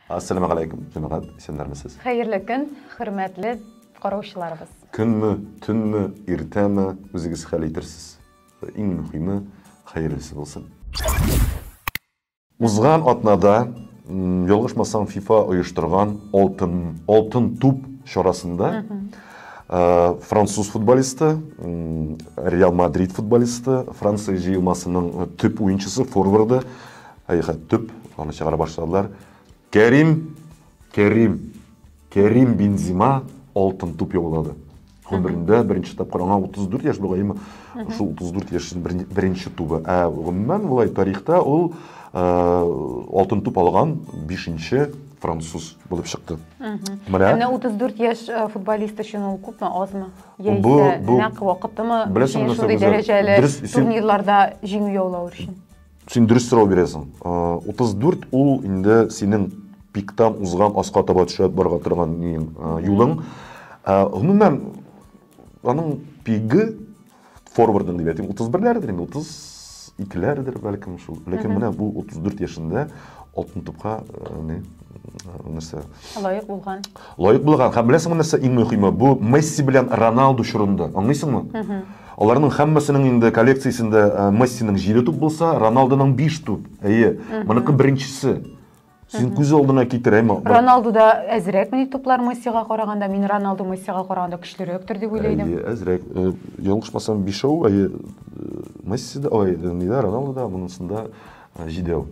Ассаламу алейкум, җәмәгать, исәннәрмесез? Хәерле көн, хөрмәтле караучыларыбыз. Көнме, төнме, иртәме, үзегез хәл итерсез. Иң мөһиме, хәерлесе булсын. Узган атнада, ялгышмасам, FIFA оештырган Алтын Алтын туп чарасында Э, француз футболисты реал мадрид футболисты франция җыелмасының э, төп уенчысы форварды хәйхәт төп аны чыгара башладылар кәрим кәрим кәрим бензима алтын туп яулады гомерендә беренче тапкыр аңа 34 яшь бугай шул 34 яшен беренче тубы ә гомумән болай тарихта ул э, алтын туп алган бишенче француз булып чыкты. Менә. Менә 34 яшь э, футболист өчен ул күпме, азмы? Яисә нәкъ вакытымы? Беләсең, шундый дәрәҗәле турнирларда җиңү яулау өчен. Син дөрес сорау бирәсең. 34 э, ул инде синең пиктан узган аска таба төшә барга торган э, юлың. Гомумән, аның пиги форвардын дип әйтим утыз берләрдер инде утыз икеләрдер бәлкем шул ләкин менә бу утыз дүрт яшендә алтын тупка э, не э, нәрсә лаек булган лаек булган һәм беләсеңме нәрсә иң мөһиме бу месси белән роналду чорында аңлыйсыңмы аларның һәммәсенең инде коллекциясендә э, мессиның җиде туп булса роналдоның биш туп әйе моныкы беренчесе Син күз алдына китер, әй, Роналду да әзрәк мени туплар Мессига караганда, мин Роналду Мессига караганда көчлерәктер дип уйлыйдым. Әйе, әзрәк. Э, Ялгышмасам, бишәү, әйе, э, Месси да, ой, э, нидә, Роналду да, монысында җидәү.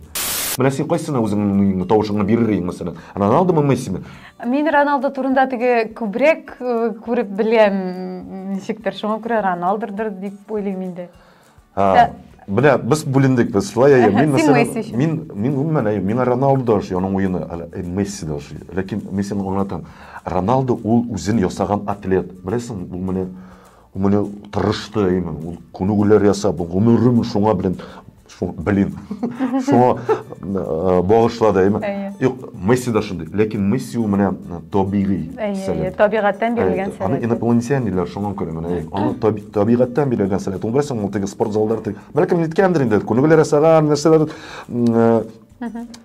Менә син кайсына үзеңнең тавышыңны бирер идең, мәсәлән, Роналдумы, Мессиме? Мин Роналду турында теге күбрәк күреп беләм, ничектер, шуңа күрә Роналдурдыр дип уйлыйм инде. Һәм Менә без бүлендек, без шулай әйе. Мин мәсәлән, мин мин гомумән әйе, миңа Роналдо ошый, аның уены, э, Месси дә ошый. Ләкин Мессины аңлатам. Роналдо ул үзен ясаган атлет. Беләсең, ул менә ул менә тырышты, әйеме, ул күнегүләр ясап, гомерен шуңа белән, блин, шуңа э, багышлады, әйеме. Месси да шундый. Ләкин Месси ул менә табигый сәләт. Табигатьтән бирелгән сәләт. Аны инопланетян диләр шуңа күрә менә. Аны табигатьтән бирелгән сәләт. Ул берсен ул теге спорт заллар теге. Бәлки ниткәндер инде. Күнегүләр ясаган нәрсәләр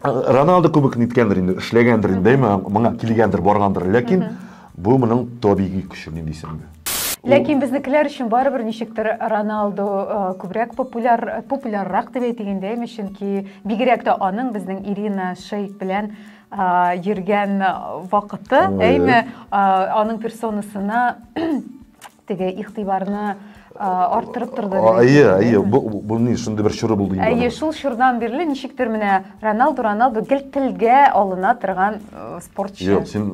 Роналдо кебек ниткәндер инде, эшләгәндер инде, дәйме, моңа килгәндер, баргандыр. Ләкин Бу моның табигый көче ди дисең инде. Ләкин безнекеләр өчен барыбер ничектер Роналду э, күбрәк популяр популяррак дип әйтик инде, әйме, чөнки бигрәк тә аның безнең Ирина Шейк белән э, йөргән вакыты, әйме, э, аның персонасына теге игътибарны арттырып торды әйе әйе бу ни шундый бер чоры булды инде әйе шул чордан бирле ничектер менә роналду роналду гел телгә алына торган спортчы юк син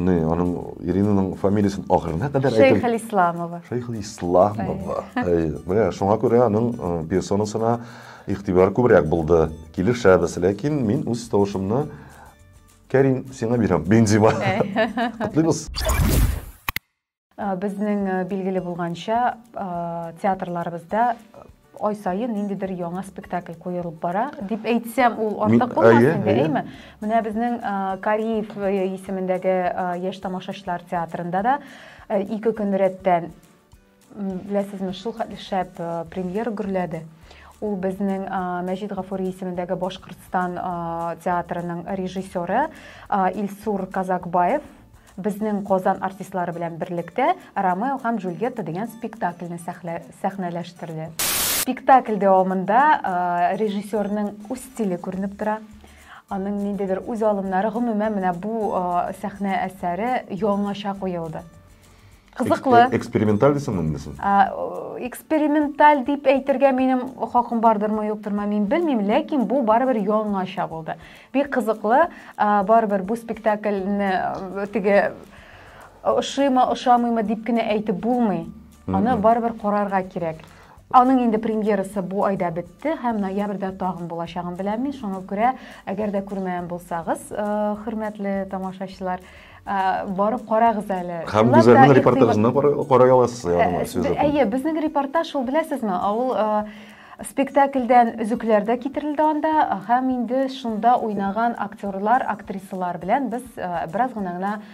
не аның иринаның фамилиясен ахырына кадәр әйтеп шәйхелисламова шәйхелисламова әйе менә шуңа күрә аның персонасына игътибар күбрәк булды килешәбез ләкин мин үз тавышымны кәрим сиңа бирәм бензима котлыйбыз Э, безнең э, билгеле булганча э, театрларыбызда ай сайын ниндидер яңа спектакль куерылып бара дип әйтсәм ул артык булмас инде әйме менә безнең кариев исемендәге яшь тамашачылар театрында да ике көн рәттән беләсезме шул хәтле шәп премьера гөрләде ул безнең мәҗит гафури исемендәге башкортстан театрының режиссеры илсур казакбаев Безнең Казан артистлары белән берлектә Ромео һәм Джульетта дигән спектакльне сәхнәләштерде. Спектакль дәвамында режиссерның үз стиле күренеп тора. Аның ниндидер үз алымнары, гомумән, менә бу сәхнә әсәре яңача куелды. Кызыклы. Экс- Эксперименталь дисеңме инде син? А, о, Эксперименталь дип әйтергә минем хакым бардырмы, юктырмы, мин белмим, ләкин бу барыбер яңача булды. Бик кызыклы, а, барыбер бу спектакльне э, теге ошыймы, ошамыймы дип кенә әйтеп булмый. Аны барыбер карарга кирәк. Аның инде премьерасы бу айда бетте һәм ноябрьдә тагын булачагын беләм мин. Шуңа күрә, әгәр дә күрмәгән булсагыз, э, хөрмәтле тамашачылар, э, барып карагыз әле. Һәм Гүзәлнең репортажына карый аласыз, ягъни сүз итеп. Әйе, безнең репортаж ул беләсезме? Ул э, спектакльдән өзекләр дә китерелде анда һәм инде шунда уйнаган актерлар, актрисалар белән без бераз гына гына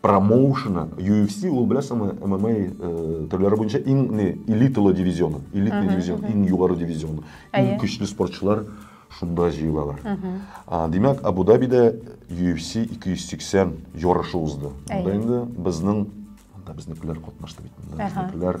промоушена UFC ул беләсеңме MMA э, төрләре буенча иң не элиталы дивизионы, элитный дивизион, иң югары дивизион. Иң көчле спортчылар шунда җыелалар. А, димәк, Абу-Дабида UFC 280 ярышы узды. Монда инде безнең монда безнекеләр катнашты бит. Монда безнекеләр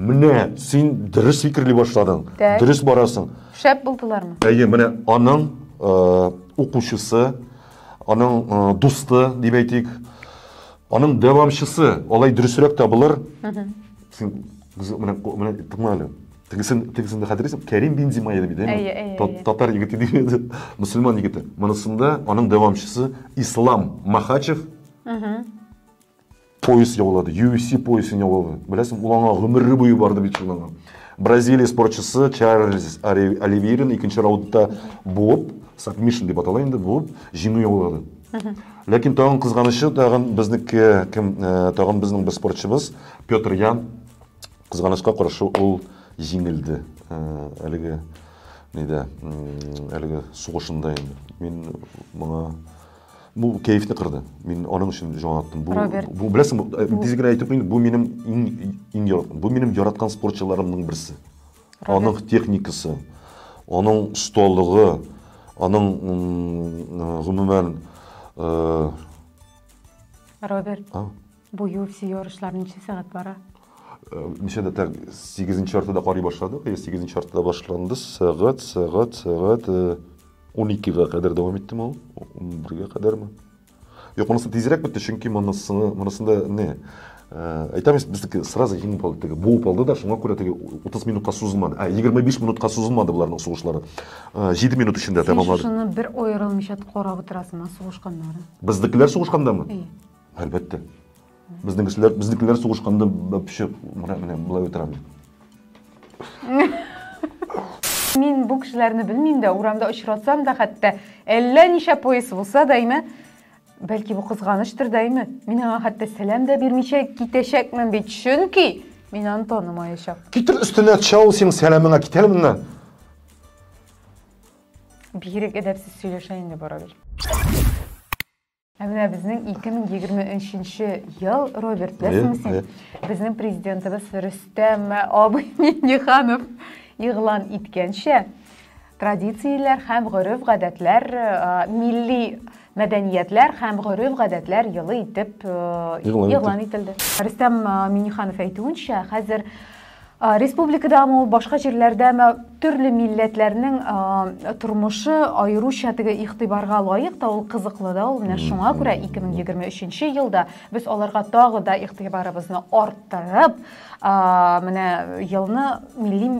Менә син дөрес фикерли башладың. Тәй. Дөрес барасың. Шәп булдылармы? Әйе, менә аның э, укучысы, аның э, дусты дип әйтик, аның дәвамчысы, алай дөресрәк табылыр. Син менә менә тыңла әле. Тегесен тегесен дә хәтерлисең, Кәрим бин Зимай дип әйтә. Әйе, әйе, әйе. Татар егете дип әйтә. Мөселман егете. Монысында аның дәвамчысы Ислам Махачев. Пояс яулады, UFC поясын яулады. Беләсең, ул аңа гомере буе барды бит шул аңа. Бразилия спортчысы Чарльз Оливейрин икенче раундта буып, сабмишн дип атала инде, буып, җиңү яулады. Ләкин тагын кызганычы, тагын безнеке кем, э, тагын безнең бер спортчыбыз Петр Ян кызганычка каршы ул җиңелде. Э, әлеге нидә, әлеге сугышында инде. Мин моңа Бу кәефне кырды. Мин аның өчен җан аттым. Бу, Роберт. бу беләсең, бу, э, тиз генә әйтеп куйыйм, бу минем иң иң яраткан, бу минем яраткан спортчыларымның берсе. Аның техникасы, аның осталыгы, аның м, э, гомумән э, Роберт. а, Бу UFC ярышлары ничә сәгать бара? Э, ничәдә тәк сигезенче яртыда карый башладык я сигезенче яртыда башланды сәгать сәгать сәгать э, он икегә кадәр дәвам итте ул он бергә кадәрме юк монысы тизрәк бетте чөнки монысы монысында не э, әйтәмез безнеке сразу еңеп алды теге буып алды да шуңа күрә теге утыз минутка сузылмады ә егерме биш минутка сузылмады боларның сугышлары җиде минут эчендә тәмамлады син шуны бер аерылмыйча карап утырасыңмы сугышканнарын безнекеләр сугышкандамы Әлбәттә. Безнең кешеләр, безнекеләр сугышканда вообще менә менә болай утыра бит. Мин бу кешеләрне белмим дә, урамда очратсам да хәтта, әллә ничә пояс булса да име, бәлки бу кызганыштыр да име, мин аңа хәтта сәлам да бирмичә китәчәкмен бит, чөнки мин аны танымаячак. Китер өстенә төшә ул синең сәламеңә, кит әле моннан. Бигрәк әдәпсез сөйләшә инде барыбер. Ә менә безнең 2023 нче ел, Роберт, беләсеңме син? Безнең президентыбыз Рөстәм абый Миңнеханов игълан иткәнчә, традицияләр һәм гореф-гадәтләр, милли мәдәниятләр һәм гореф-гадәтләр елы итеп игълан ителде. Рөстәм Миңнеханов әйтүенчә, хәзер Республикадамы ул, башка җирләрдәме, төрле милләтләрнең тормышы аеруча теге игътибарга лаек та, ул кызыклы да ул. Менә шуңа күрә 2023 елда без аларга тагы да игътибарыбызны арттырып, менә елны милли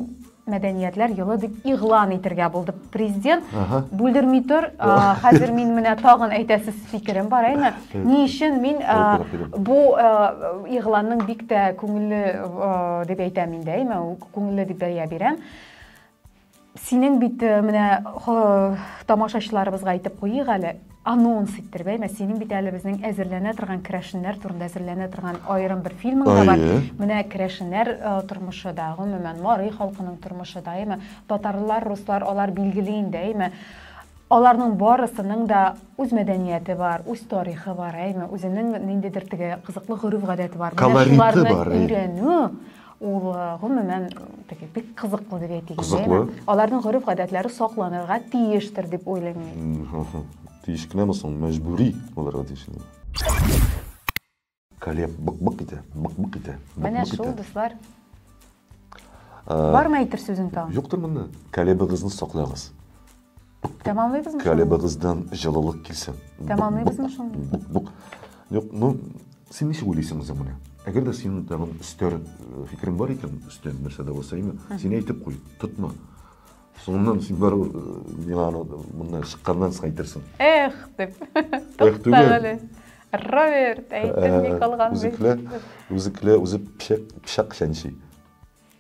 мәдәниятләр елы дип игълан итергә булдык. президент бүлдерми тор хәзер мин менә тагын әйтәсез фикерем бар әйме ни өчен мин бу игъланның бик тә күңелле дип әйтәм инде әйме күңелле дип бәя бирәм синең бит менә тамашачыларыбызга әйтеп куйыйк әле Анонс иттер, бәймә, синең бит әле безнең әзерләнә торган керәшеннәр турында әзерләнә торган аерым бер фильмың да бар. Әйе. Менә керәшеннәр э, тормышы да, гомумән, Марый халкының тормышы да, әйме, татарлар, руслар, алар билгеле инде, әйме. Аларның барысының да үз мәдәнияте бар, үз тарихы бар, әйме, үзенең ниндидер теге кызыклы гореф-гадәте бар. Менә Колориты шуларны бар, әйе. өйрәнү, Ул, гомумән, теге бик кызыклы дип әйтик инде. Кызыклы. Аларның гореф-гадәтләре сакланырга тиештер дип уйлыйм мин. Тиеш кенәме соң, мәҗбүри булырга тиеш инде. Калеб бык-бык итә, бык-бык итә, бык-бык итә. Менә шул, дуслар. Бармы әйтер сүзең тагын? Юктыр монда. Калебыгызны саклагыз. Тәмамлыйбызмы? Калебыгыздан җылылык килсен. Тәмамлыйбызмы шуны? Бук-бук. Юк, ну, син ничек уйлыйсың үзең менә? Әгәр дә синең тагын өстәр э, фикерең бар икән, өстәр нәрсә дә булса, именно, син әйтеп куй, тотма. Соңыннан син бару э, миңа аны моннан чыкканнан соң әйтерсең. Эх, дип. Эх, түгел. Роберт, әйтеп ни э, калган. Үзекле, үзекле, үзе пешек, пешек чәнчи.